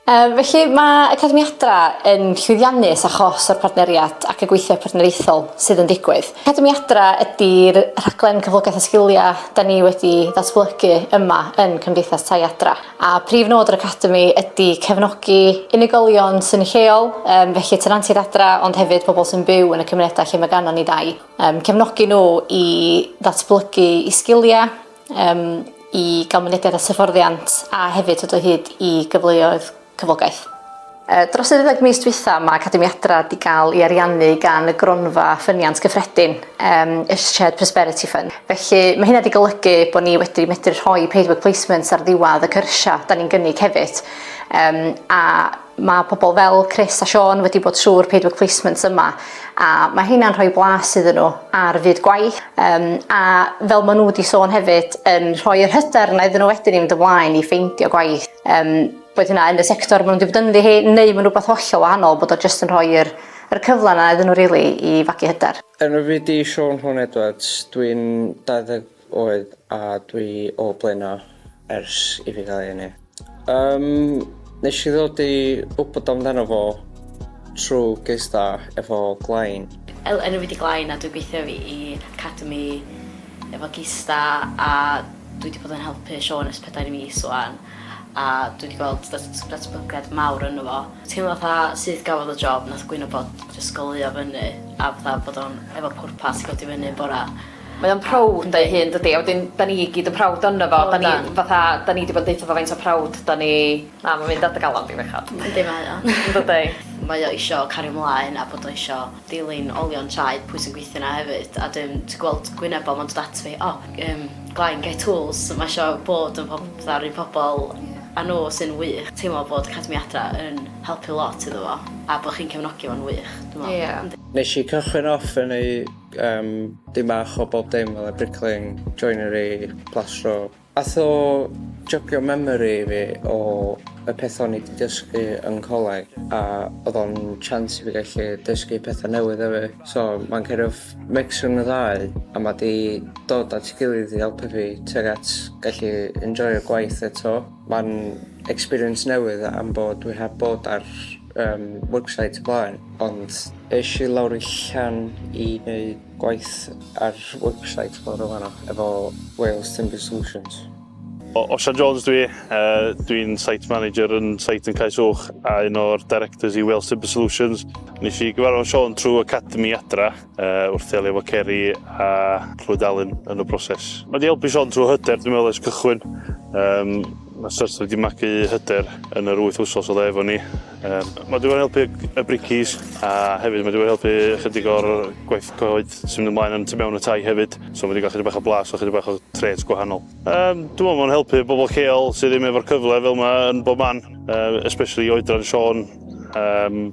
Yym, felly, mae Academi Adra yn llwyddiannus achos o'r partneriad ac y gweithio partneriaethol sydd yn digwydd. Academi Adra ydy'r rhaglen cyflogaeth a sgiliau da ni wedi ddatblygu yma yn Cymdeithas Tai Adra, a prif nod yr Academi ydy cefnogi unigolion sy'n lleol, yym, felly tenantiaid adra, ond hefyd pobl sy'n byw yn y cymunedau lle mae ganddon ni dai, yym, cefnogi nhw i ddatblygu i sgiliau, Yym i ga'l mynediad at hyfforddiant a hefyd dod o hyd i gyfleoedd cyflogaeth. Yy dros y ddeuddeg mis dwytha ma' Academiadra 'di ga'l i ariannu gan y Gronfa Ffyniant Cyffredin yym y Shared Prosperity Fund. Felly ma' hynna 'di golygu bo' ni wedi medru rhoi paid work placements ar ddiwadd y cyrsia 'da ni'n gynnig hefyd yym a Mae pobl fel Chris a Siôn wedi bod trwy'r paid work placements yma a mae hynna'n rhoi blas iddyn nhw ar fyd gwaith um, a fel maen nhw wedi sôn hefyd yn rhoi yr hyder yna iddyn nhw wedyn i fynd ymlaen i ffeindio gwaith. Um, boed hynna yn y sector maen nhw'n wedi bod ynddi hi neu maen rhywbeth hollol wahanol bod o jyst yn rhoi'r yr cyfle yna iddyn nhw rili really, i fagu hyder. Yn y fideo Siôn Hwn Edwards, dwi'n 20 Oedd a dwi o Blaena ers i fi gael ei eni. Yym, nes i ddod i wybod amdano fo trwy gys da efo Glain. Helo, enw fi di Glain a dwi'n gweithio fi i Academi efo gys da a dwi wedi bod yn helpu Siôn ers pedair mis wan a dwi wedi gweld datblygiad mawr yno fo. Teimlo fatha syth gafodd y job nath gwyno bod jyst goleuo fyny a fatha bod o'n efo pwrpas i godi fyny yn bora. Mae o'n proud ynddo ei hun dydi a wedyn 'dan ni i gyd yn proud onno fo. O 'dan. 'Dan ni fatha 'dan ni 'di bod yn deutho fo faint o proud 'dan ni. Na ma'n mynd ar dy galon di bechod. Yndi mae o. Yndydi? Mae o isio cario mlaen a bod o isio dilyn olion traed pwy sy'n gweithio 'na hefyd a dwi'n dwi gweld gwyneb o ma'n dod at fi o yym Glenn get tools ma' isio bod yn pob- fatha'r un pobol a n'w sy'n wych. Teimlo bod Academi Adra yn helpu lot iddo fo a bo' chi'n cefnogi fo'n wych dwi me'wl. Ia. Yndi. Nesh i cychwyn off yn y Yym, dyn bach o bob dim fel bricklaying, joinery, plastro. Ath o jygio memory fi o y peth o'n i 'di dysgu yn coleg a oedd o'n chance i fi gallu dysgu pethau newydd hefyd. So mae'n kind of mix rhwng y ddau a mae 'di dod at ei gilydd i helpu fi tuag at gallu enjoio'r gwaith eto. Mae'n experience newydd am bod dwi heb bod ar yym website o blaen ond es i lawr i Llan i neud gwaith ar website bore fanno efo Wales Timber Solutions. O, Osian Jones dwi, uh, dwi'n site manager yn site yn Caes Uwch a un o'r directors i Wales Timber Solutions. Nes i gyfarfod Sean trwy Academy Adra Yy wrth ddelio efo ceri a clwyd alun yn y broses. Mae 'di helpu Siôn trwy hyder dwi'n meddwl ers cychwyn. Yym mae Sturter wedi magu hyder yn yr wyth wsos oedd e efo ni. Yym mae 'di bod yn helpu y bricis a hefyd mae 'di bod yn helpu ychydig o'r gwaith coed sy'n mynd ymlaen yn tu mewn y tai hefyd. So mae 'di gael chydig bach o blas a chydig bach o trêts gwahanol. Yym dwi'n meddwl mae'n helpu bobl lleol sydd ddim efo'r cyfle fel 'ma yn bob man yy especially i oedran Siôn. Yym.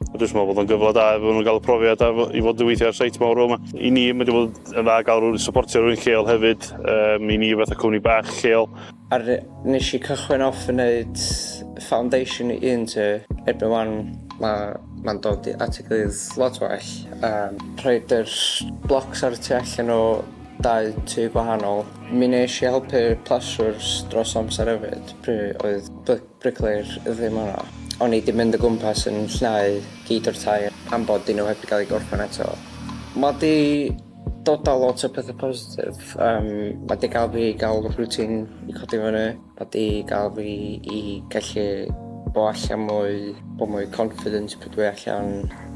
Dwi jyst yn meddwl bod o'n gyfle da iddyn nhw gael y profiad a i fod yn weithio ar seit mawr fel 'ma. I ni mae 'di bod yn dda gael rhywun i syportio rhywun lleol hefyd yym i ni fatha cwmni bach lleol. A nes i cychwyn off yn neud foundation i un tŷ. Erbyn 'wan ma' ma'n dod i at ei gilydd lot well a rhoid yr blocs ar y tu allan o dau tŷ gwahanol. Mi nesh i helpu pleswrs dros amser efyd pryd oedd by- briclayr ddim yno. O'n i 'di mynd o gwmpas yn llnau gyd o'r tai am bod nhw heb 'di gael eu gorffen eto. Ma' 'di dod â lot o pethe positif, yym ma' 'di gael fi i gael rwtîn i codi fyny, ma' 'di gael fi i gallu bod allan mwy, bod mwy confident pryd dwi allan.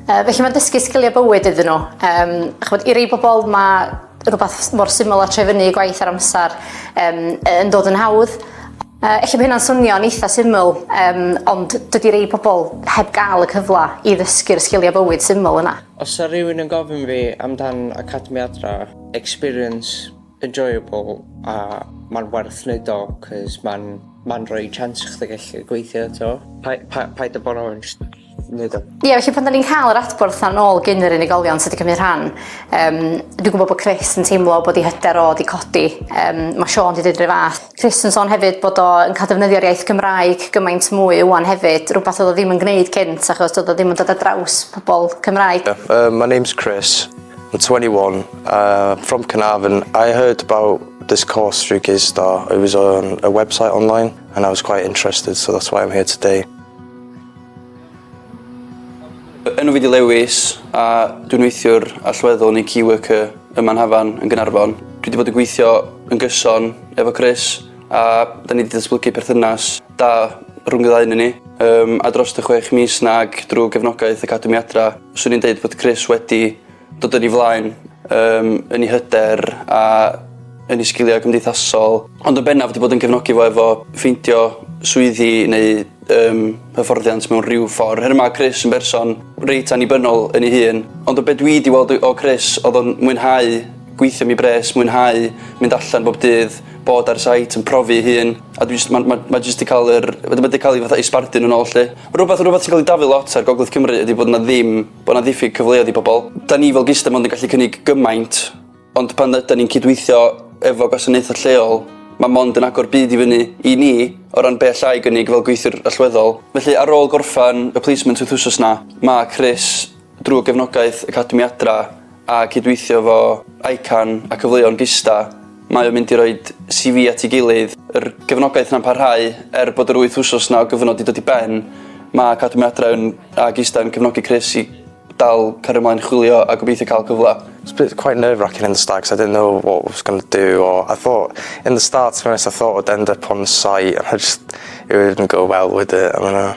Yy felly ma'n dysgu sgilie bywyd iddyn nhw. Yym ch'mod i rei pobol ma' rhywbeth mor syml a troi fyny i gwaith ar amser um, yn dod yn hawdd. Uh, Ella bod hynna'n swnio'n eitha syml, um, ond dydy rei pobl heb gael y cyfle i ddysgu'r sgiliau bywyd syml yna. Os yna rhywun yn gofyn fi amdan Academi Adra, experience, enjoyable, a mae'n werth wneud o, cys mae'n ma rhoi chance i chdi gallu gweithio eto. Pa, pa, paid o bo'n onest. Ie, felly pan da ni'n cael yr adborth na'n ôl gyn yr unigolion sydd wedi cymryd rhan, um, dwi'n gwybod bod Chris yn teimlo bod ei hyder o wedi codi. Um, mae Sean wedi dweud rhywbeth fath. Chris yn sôn hefyd bod o'n cael defnyddio'r iaith Gymraeg gymaint mwy ywan hefyd, rhywbeth oedd o ddim yn gwneud cynt achos oedd o ddim yn dod ar draws pobl Cymraeg. Yeah, uh, my name's Chris, I'm 21, uh, from Carnarvon. I heard about this course through Gistar. It was on a website online and I was quite interested, so that's why I'm here today. Fy enw fi di Lewis a dwi'n weithiwr allweddol neu key worker yma yn Hafan yn Gaernarfon. Dwi di bod yn gweithio yn gyson efo Chris a 'da ni di datblygu perthynas da rhwng y ddau ynnyn ni yym a drost y chwech mis 'na ag drw gefnogaeth Academi Adra swn i'n deud bod Chris wedi Dod yn ei flaen um, yn ei hyder a yn ei sgiliau cymdeithasol, ond yn bennaf wedi bod yn cefnogi fo efo ffeindio swyddi neu um, hyfforddiant mewn rhyw ffordd. Her yma, Chris yn berson reit annibynnol yn ei hun, ond o beth dwi wedi weld o Chris, oedd o'n mwynhau gweithio mi bres, mwynhau mynd allan bob dydd, bod ar site yn profi ei hun, a dwi'n mae ma, ma jyst wedi cael yr, wedi cael ei fatha ei sbardun yn ôl lle. Rhywbeth, rhywbeth sy'n cael ei dafu lot ar Gogledd Cymru ydy bod yna ddim bod 'na ddiffyg cyfleoedd i bobl. Da ni fel GISTA mond yn gallu cynnig gymaint, ond pan ydan ni'n cydweithio efo gwasanaethau lleol, mae mond yn agor byd i fyny i ni o ran be alla i gynnig fel gweithiwr allweddol. Felly, ar ôl gorffen y placement wythwsos 'na, mae Chris, drwy gefnogaeth Academi Adra, a cydweithio 'fo ICAN a Cyfleon Gista, mae o'n mynd i roi CV at ei gilydd. Yr gefnogaeth 'na'n parhau er bod yr wyth wsos 'na o gyfnod 'di dod i ben. Mae Academi Adra yn a Gista yn cefnogi Chris i dal cario mlaen chwilio a gobeithio cael cyfle. It's been quite nerve racking in the start cos I didn't know what I was going to do or I thought in the start to be honest I thought I'd end up on site and I just it wouldn't go well would it I don't know.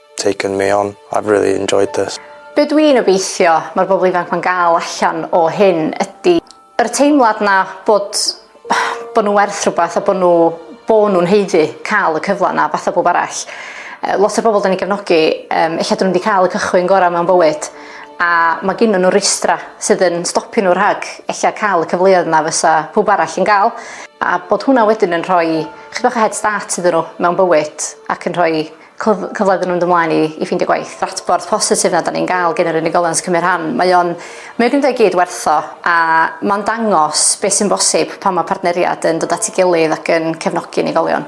taken me on, I've really enjoyed this. Be dwi'n obeithio mae'r bobl ifanc ma'n gael allan o hyn ydi yr teimlad 'na bod bod nhw'n werth rhywbeth a bod nhw bo' nhw'n haeddu cael y cyfle 'na fatha bob arall. Yy lot o'r bobl 'dan ni'n gefnogi yym ella 'dyn nhw 'di cael y cychwyn gorau mewn bywyd a mae gennyn nhw rwystra sydd yn stopio nhw rhag ella cael y cyfleoedd 'na fysa pawb arall yn gael a bod hwnna wedyn yn rhoi chydig bach o head start iddyn nhw mewn bywyd ac yn rhoi cyfle iddyn nhw fynd ymlaen i, i ffeindio gwaith. Adborth positif na da ni'n gael gen yr unigolion sy'n cymryd rhan. Mae o'n, mae o'n gwneud gyd werth o, a mae'n dangos beth sy'n bosib pan mae partneriad yn dod at ei gilydd ac yn cefnogi unigolion.